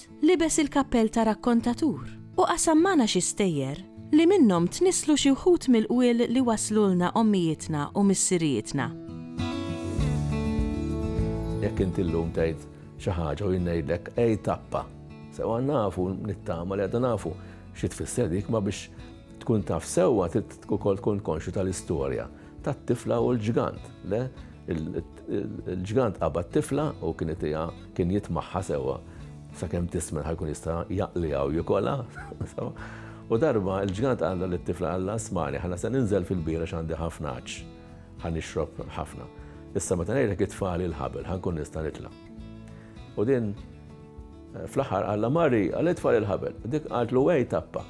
Ġeżutt libes il-kappell ta' rakkontatur u qasam magħna xi stejjer li minnhom tnisslu xi wħud mill-qwiel li wasslulna ommijietna u missirijietna. Jekk inti llum tgħid xi ħaġa u jien ngħidlek għid tappa. Sewwa nafu nittama li għadna nafu xi tfisser dik ma biex tkun taf sewwa trid ukoll tkun konxju tal-istorja tat-tifla u l-ġgant, le? Il-ġgant qabad tifla u kien itija kien jitmaħħa sewwa sakemm tismen ħajkun jista' jaqliha u jikolha. U darba il-ġgant għalla li t-tifla għalla smani ħana se ninżel fil-bira x'għandi ħafna ħaġ. Ħan ixrob ħafna. Issa meta ngħidlek it-tfali l-ħabel ħankun nista' nitla'. U din eh, fl-aħħar għalla Mari għal it-tfali l-ħabel. Dik qaltlu wej tappa.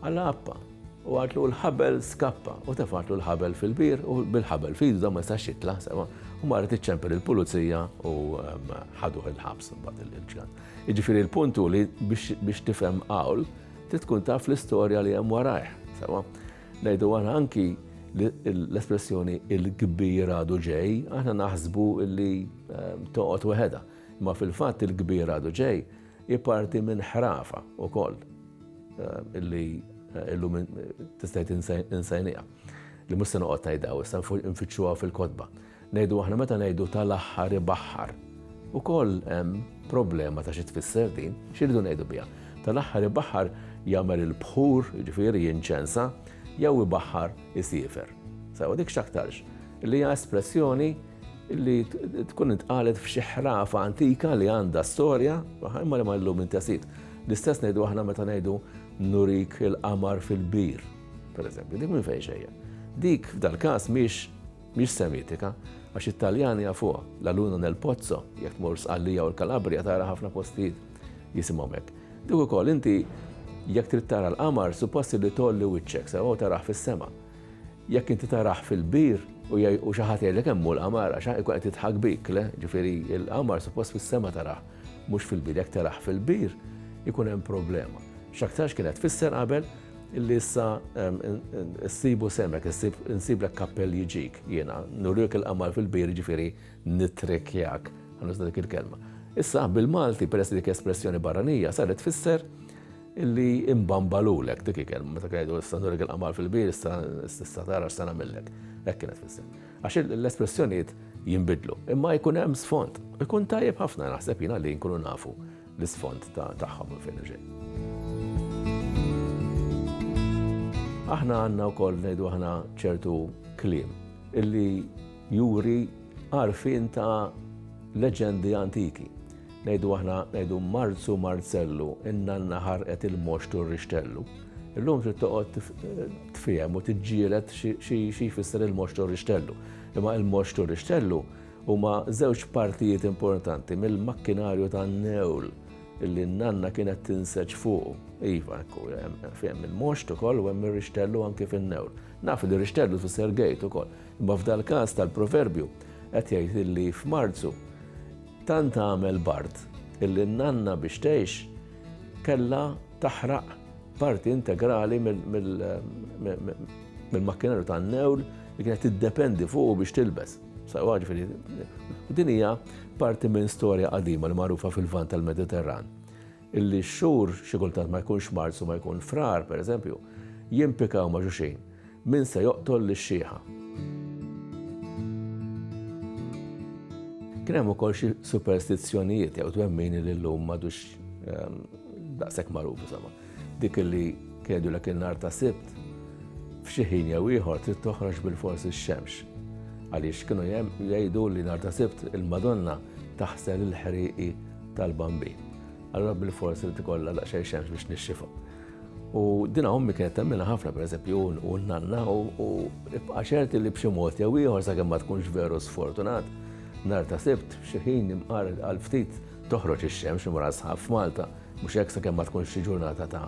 Għall-għappa, u qaltlu, L-ħabel skappa! U tefgħetlu l-ħabel fil-bir u bil-ħabel f'idu dan ma jistax jitla', sewa, u marret iċċempel il-pulizija u ħaduh il-ħabs imbagħad il-ġgan. Jiġifieri l-punt hu li biex tifhem qawl trid tkun taf l-istorja li hemm warajh, sewa. Ngħidu aħna anki l-espressjoni il-kbir għadu ġej, aħna naħsbu li toqgħod weħedha, imma fil-fatt il-kbir għadu ġej hi parti minn ħrafa wkoll. Illi illum tista' insejnija. Li mhux se noqgħod ngħidha issa nfittxuha fil-kotba. Ngħidu aħna meta ngħidu tal-aħħar ibaħħar. Ukoll hemm problema ta' xi tfisser din, x'iridu ngħidu biha. Tal-aħħar ibaħħar jagħmel il-bħur, jiġifieri jinċensa, jew ibaħħar isiefer. Sewa dik x'aktarx li hija espressjoni li tkun intqalet f'xi ħrafa antika li għandha storja, imma li ma llum intesit. L-istess ngħidu aħna meta ngħidu nurik il-qamar fil-bir, per eżempju, dik minn fejn xejja. Dik f'dal-każ miex miex semitika, għax it-Taljani jafuha, la luna nel pozzo, jekk tmur sqallija u l-Kalabria tara ħafna postijiet jisimhom hekk. Dik ukoll inti jekk trid tara l-qamar suppost li tolli wiċċek sewa u taraħ fis-sema. Jekk inti tarah fil-bir u jgħi u xi ħadd jgħidlek hemm hu l-qamar għax ikun qed jidħak bik, le, ġifieri l-qamar suppost fis-sema tarah, mhux fil-bir. Jekk tarah fil-bir ikun hemm problema. X'aktarx kienet tfisser qabel illi issa ssibu semek, issib insiblek kappell jġik jiena, nuriek il-qamar fil-bir jiġifieri nittrikkjak, ħa nuża dik il-kelma. Issa bil-Malti peress li dik espressjoni barranija saret tfisser Illi imbambalulek, dik hi kelma, meta kien jgħidu issa nurek il-qamar fil-bir, issa tista' tara x'se nagħmillek. Hekk kienet tfisser. Għax l-espressjonijiet jinbidlu, imma jkun hemm sfond. Ikun tajjeb ħafna naħseb jiena li nkunu nafu l-isfond tagħhom minn fejn ġej. Aħna għandna wkoll ngħidu aħna ċertu kliem illi juri għarfien ta' leġendi antiki. Ngħidu aħna ngħidu Marzu Marzellu, in-nanna ħarqet il-moxt u r-rixtellu. Illum trid toqgħod tfiehem u tiġġieled xi jfisser il-moxt u r-rixtellu. Imma il-moxt u r-rixtellu huma żewġ partijiet importanti mill-makkinarju tan-newl li n-nanna kienet tinseġ fuqu. Iva, ekku, hemm il-moxt ukoll u hemm ir-rixtellu anke fin-newl. Naf li rixtellu tfisser gate ukoll. Imma f'dal-każ tal-proverbju qed jgħid illi f'Marzu tant għamel bard illi n-nanna biex tgħix kellha taħraq parti integrali mill-makkinarju tan-newl li kienet tiddependi fuqu biex tilbes. Din hija parti minn storja qadima li magħrufa fil-Lvant tal-Mediterran. Illi x-xhur, xi kultant ma jkunx Marzu u ma jkun Frar, per eżempju, jimpikaw ma' xulxin, min se joqtol lix-xiħa. Kien hemm ukoll xi superstizzjonijiet jew twemmini li llum m'għadux daqshekk magħruf insomma. Dik illi kien jgħidulek in-nhar ta' Sibt, f'xi ħin jew ieħor trid toħroġ bilfors ix-xemx. Għaliex kienu jgħidu li nhar ta' Sibt il-Madonna taħsel il-ħrieqi tal-bambin. Allura bil-fors irid ikollha daqsxejn xemx biex nixxifa. U dina ommi kienet temmina ħafna pereżempju u n-nanna u ibqa' ċerti li b'xi mod jew ieħor sakemm ma tkunx veru sfortunat nar ta' sibt xi ħin imqar għal ftit toħroġ ix-xemx imra sħab f'Malta mhux hekk sakemm ma tkunx xi ġurnata ta'